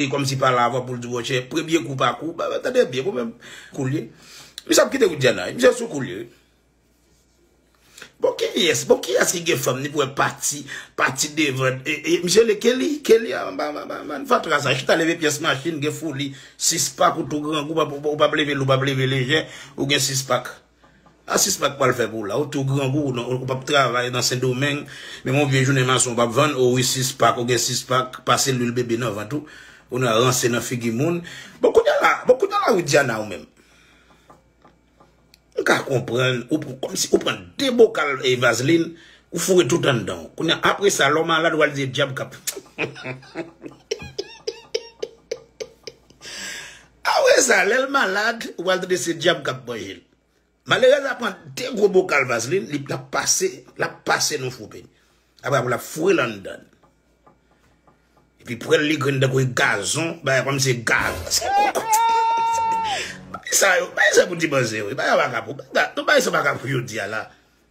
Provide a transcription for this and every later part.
E kòm si pa la avan pou l di monchè premye kou pa kou. Tande byen pou menm kou l ye. Misye ap kite Widiana wi. Misye sou kou l ye wi. Bon kiyès bon kiyès ki gen fanm ni pou wè pati pati devan e misye le Kelly Kelly anba bann fatra sa chita leve pyès machin gen foli 6 pak ou tou grangou ou pap leve l ou pap leve lejè ou gen 6 pak. Ah si spak pwal fè pou la ou tou grangou ou nan ou pap travay nan sendomeng menm yon vye jounen mason ou pap vann oh wi si spak ou gen si spak pase lwil bebe nan vant ou ou nan ranse nan figi moun bon kounya la bon kounya la widiana ou menm m ka konprann ou pran kòmsi ou pran de bokal vazlin ou foure tout anndanw kounya apre sa lèw malad wal di e dyab kap humm humm humm humm humm Aoueza lèl malad ou pral tande se dyab kap manjel. Malerèz la pran 2 gwo bokal vazlin li lap pase lap pase nou foupe. Apre pou lap foure l anndan. Epi pwèl li grenn tankou e gazon bagay kòm se gaz. Bagay sa yo bagay sa pou ti manzè wi bagay waka pou bagay sa waka pou yo di a la.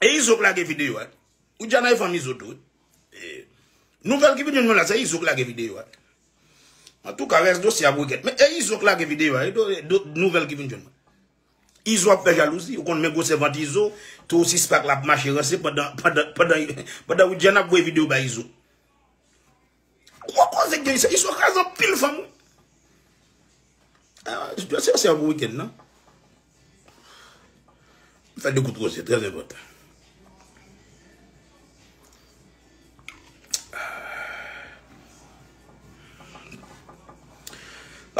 E izo k lage video a. Widiana e fanm izo tou wi. Nouvel ki vin jwenn mwen la se izo k lage video a. Antouka res dosye a pou gèt. Men e izo k lage video a. Nouvel ki vin jwenn mwen. Izo ap fè jalouzi. Ou konn men gwosè vant izo. Tou ou sispak lap mache ranse pandan Widiana ap voye video bay izo. Gwo koze ki gen isit. Izo kraze anpil fanm wi. Jodi a se yon bon weekend nan. M fè 2 gout roze, trè enpòtan.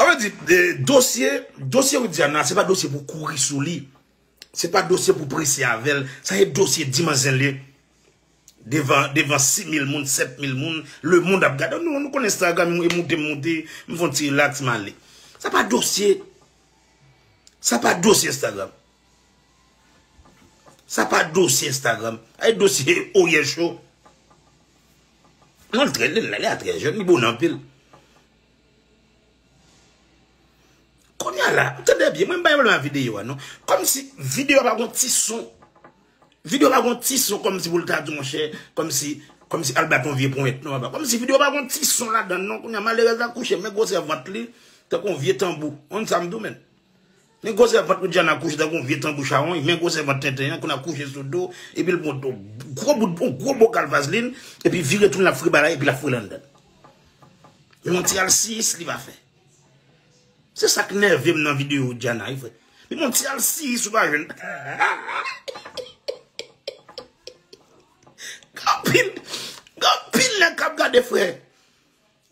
Sa vle di, dosye, dosye Widiana se pa dosye pou kouri sou li. Se pa dosye pou prese avèl. Sa se dosye dimanzele. Devan 6000 moun 7000 moun Le mond ap gade Nou konn Instagram e moute m moute M fon ti relax m ale Sa pa dosye Sa pa dosye Instagram Sa pa dosye Instagram A e dosye Oriel Cho Mwen l trè lè l a trè jèn Li bon anpil Konya la Tande byen mwen m pa yon l a videyo a non Kòm si videyo a pa gon ti son Video pa gon ti son kòmsi pou l ta di monchè kòmsi kòmsi al bat yon vye ponyèt non papa kòmsi video pa gon ti son ladann non kounya malerèz la kouche men gwosè vant li tankou yon vye tanbou ou konn sa m di w menn men gwosè vant Widiana kouche tankou yon vye tanbou chawony men gwosè vant tenten an kounye a kouche sou do epi l pran yon gwo bout yon gwo bokal vazlin epi vire tou l ap frebalay epi l ap frennen anndan l men yon ti alsiyis li pa fè. Se sa k nève m nan videyo Djana wi frè. Li pran ti alsiyis ou pa jwenn. Gen anpil, gen anpil nèg k ap gade frè.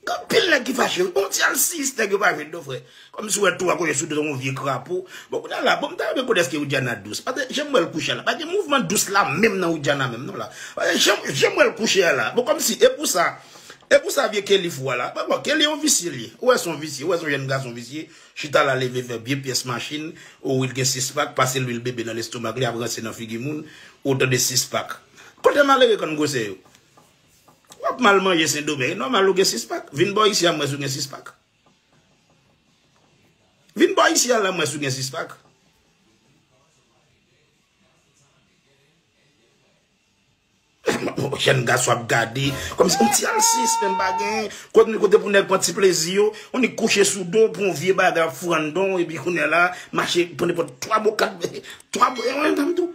Gen anpil nèg ki fache wi. Pran ti alsiyis nèg yo pa jwenn non frè. Kòmsi w wè twa kote sou do tankou yon vye krapo. Bon kounye a la, bon m ta renmen konnen èske Widiana dous. Paske jan m wè l kouche a la, pa gen mouvman dous la menm nan Widiana menm non la. Paske jan m wè l kouche a la, bon kòmsi e pou sa. E pou sa vye Kelly fou a la? Bon bon Kelly yon visye li ye. Ou wè son visye, ou wè son jèn gason visye, chita la leve vè vye pyès machin, ou wi l gen 6 pak, pase lwil bebe nan lestomak li ap ranse nan figi moun, ou tande 6 pak. Kote malere kann gwosè yo? W ap mal manje sendomeng, e nòmal ou gen 6 pak. Vin bò isi a m wè si w gen 6 pak. Vin bò isi a la m wè si w gen 6 pak. Jèn gason ap gade kòm si yon ti alsiyis menm pa gen. Kote pou nèg pran ti plezi yo. On nèg kouche sou do pou yon vye bagay ap fou andon epi kounye la mache pran nenpòt 3 bo 4 bo. 3 bo yon dam tou.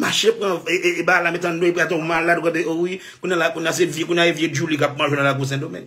Mache pran e ba la met andon epi ate yon malad ou gade owi. Kounye la kounye la se vye kounye la e vye djouli kap manje nan lakou sendomeng.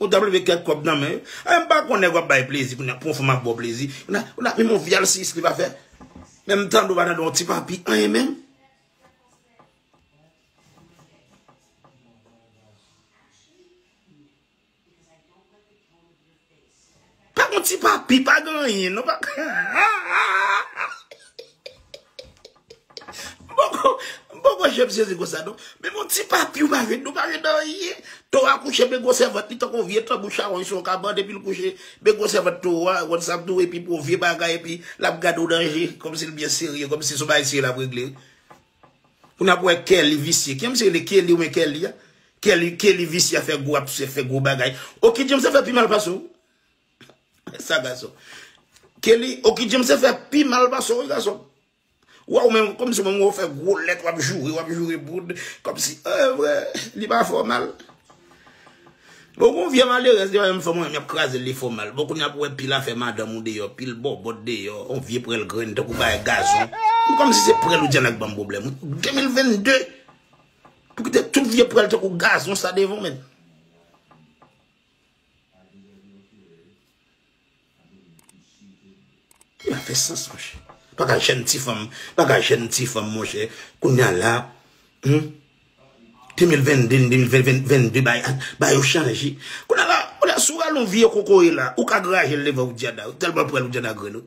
Ou tap leve kèk kòb nan men yo. Ay m pa konn nèg wap bay plezi kounya pou yon fanm ap baw plezi. Ou la menm yon vyal sis li pa fè. Menm tande ou pa tande yon ti papi anyen menm. Pa gon ti papi pa gen anyen non pa Mpoko Mpoko wè jèm sezi konsa non Men gon ti papi ou pa jwenn nou pa jwenn anyen Towo a kouche men gwosè vant li tankou yon vye tanbou chawony sou yon kabann epi l kouche men gwosè vant towo a ou konn sa m di w epi pou yon vye bagay epi l ap gade w nan je kòmsi l byen serye kòmsi se yon bagay serye l ap regle wi. Pou nap wè Kelly visye. Kiyè misye rele Kelly oubyen Kelly a? Kelly Kelly visye ap fè gwo ap fè gwo bagay. Oky James ap fè pi mal pase w. Sa gason. Kelly Oky James ap fè pi mal pase w wi gason. Wè w menm kòmsi w menm wè w fè gwo lèt wap joure wap joure boud kòmsi evre li pa fè w mal. Bon gon vye malerèz li pa menm fè mwen yap krazel li fò mal bon kounya pou wè pil afè madanm ou deyò pil bòbòt deyò yon vye prèl grenn tankou bagay gazon m kòmsi se prèl ou di an lak banm problèm wi 2022 pou kite tout vye prèl tankou gazon sa devan men. Li pa fè sans monchè. Paka jèn ti fanm, paka jèn ti fanm monchè. Kounya la, hum, 2022, 2022 bay, bay yo chanje. Kounya la, kounya sou ralon vye kokoye la, ou ka grajel devan ou djada, ou telman pranl ou djada grenn ou.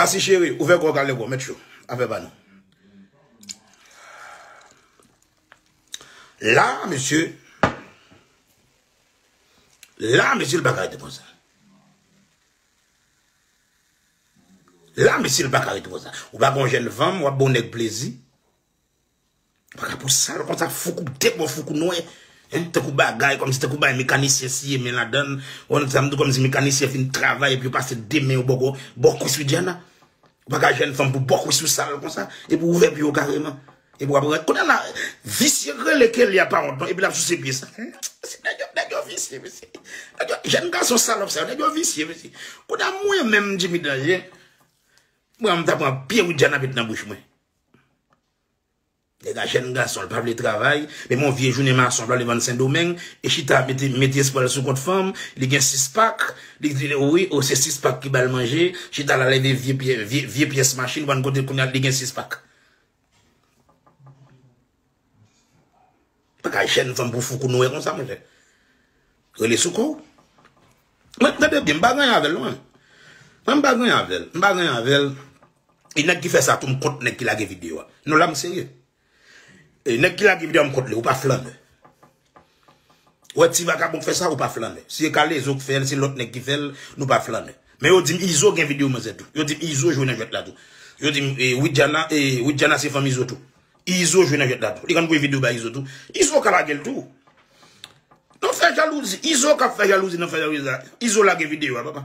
Kasi cheri, ouvè kò w kal negò, mèt chou, afè pa nou. La, mesye, la, mesye, l pa ka rete konsa. La, mesye, l pa ka rete konsa. Ou pa gon jèn fanm, w ap bon nèg plezi. Vagabon sal konsa foukou debò foukou nwè hein tankou bagay kòmsi tankou bagay mekanisyen siye men ladann ou wè sam di kòmsi mekanisyen fin travay epi yo pase 2 men yo bòkò bò kwis widiana ou pa ka jwenn fanm pou bò kwis ou sal konsa epi ou ouvè pye ou kareman epi wap rale kounye la visye k rele Kelly a pa wont non epi lap souse pye sa humm mesye nèg yo nèg yo visye mesye nèg yo jèn gason salòp sa yo nèg yo visye mesye kounye a mwen menm Jimmy Danger mwen menm ta pran pye widiana met nan bouch mwen. Nèg la jèn gason, li pa vle travay, menm yon vye jounen mason li pa vle vann sendomeng, li chita mete espwa l sou kont fanm, li gen 6 pak, li di wi o se 6 pak ki bal manje, chita la leve vye pyès machin vann kote kounya li gen 6 pak. Paka jèn fanm pou fou kou Noé konsa monchè. Rele sou kòw. Mwen tande byen, m pa ranyen avèl non. Mwen m pa ranyen avèl. M pa ranyen avèl. E nèg ki fè sa tou m kont nèg ki lage video a. Non la m serye. E nèg ki lage video a m kont li. Ou pa flannè. Ou wè ti vagabon k fè sa ou pa flannè. Si se K-lezo k fè l, si lòt nèg ki fè l, nou pa flannè. Men yo di m Izo gen videyo manzè tou. Yo di m Izo jwe nan jwèt la tou. Yo di m Widiana e Widiana se fanm Izo tou. Izo jwe nan jwèt la tou. Li konn voye videyo bay Izo tou. Izo ka lage l tou. Nan fè jalouzi. Izo k ap fè jalouzi nan fè jalouzi la. Izo lage videyo a papa.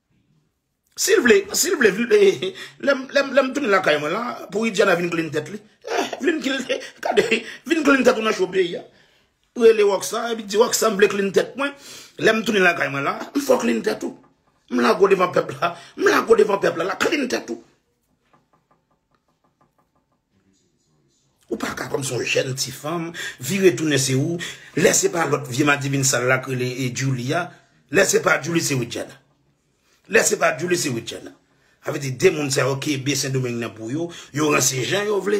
Sil vle, sil vle vin lè m tounen lakay mwen la pou Widiana vin klin tèt li. Vin klin tèt ou, gade, vin klin tèt ou nan cho peyi a. Rele Rocksa epi di Rocksa m vle klin tèt mwen. Lè m tounen lakay mwen la, m fè w klin tèt ou. M lague w devan pèp la, m lague w devan pèp la la, klin tèt ou. Ou pa ka kòm son jèn ti fanm, vire tounen se ou, lè se pa lòt vye madivin sal la k rele Djoulie a, lè se pa Djoulie se Widiana. Lè se pa Djoulie se Widiana. Sa vle di 2 moun sa yo kenbe sendomeng nan pou yo, yo ranse jan yo vle.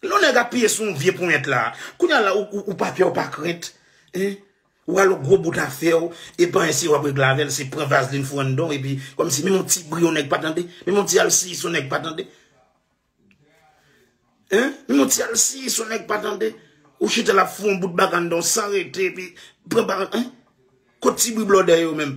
Lè nèg ap piye sou yon vye ponyèt la, kounya la ou pa pè ou pa krent, hein, ou al yon gwo bout afèw, e panyen siye wap regle avèl se pran vazlin fouwe nan danw epi kòmsi menm yon ti bri yon nèg pa tande, menm yon ti alsiyis yon nèg pa tande hein, menm yon ti alsiyis yon nèg pa tande, ou chita la ap fouwe yon bout bagan nan danw san rete epi pran bagan, hein, kot ti bri blòdè yo menm,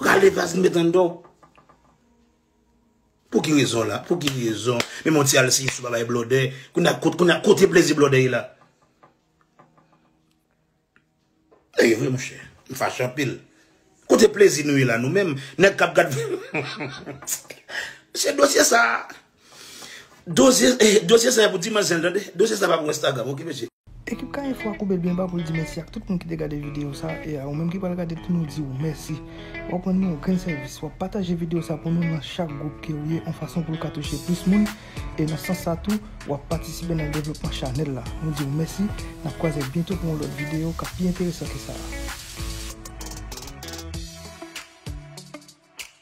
Rale vas nou met andan. Pou ki rezon la? Pou ki rezon? Men mwen ti al si sou babay blode. Kou na kote, kou na kote plezi blode la. E vre mwen chè. Mwen fache anpil. Kote plezi nou la nou men. Nèk kap gad. Se dosye sa. Dosye sa pou dimanche tande. Dosye sa pa pou instagram ok mesye. Ekip Kayefo a koube byen ba pou l di mèsi ak tout moun ki te gade videyo sa e a ou menm ki pral gade l pou nou di ou mèsi. Wa p rann nou yon grenn sèvis, wa p pataje videyo sa pou nou nan chak gwoup ke ou ye on fason pou l ka touche plis moun e nan sans sa tou wa p patisipe nan devlopman chanèl la. Nou di ou mèsi, n ap kwaze byento pou yon lòt videyo k ap pi enteresan ke sa a.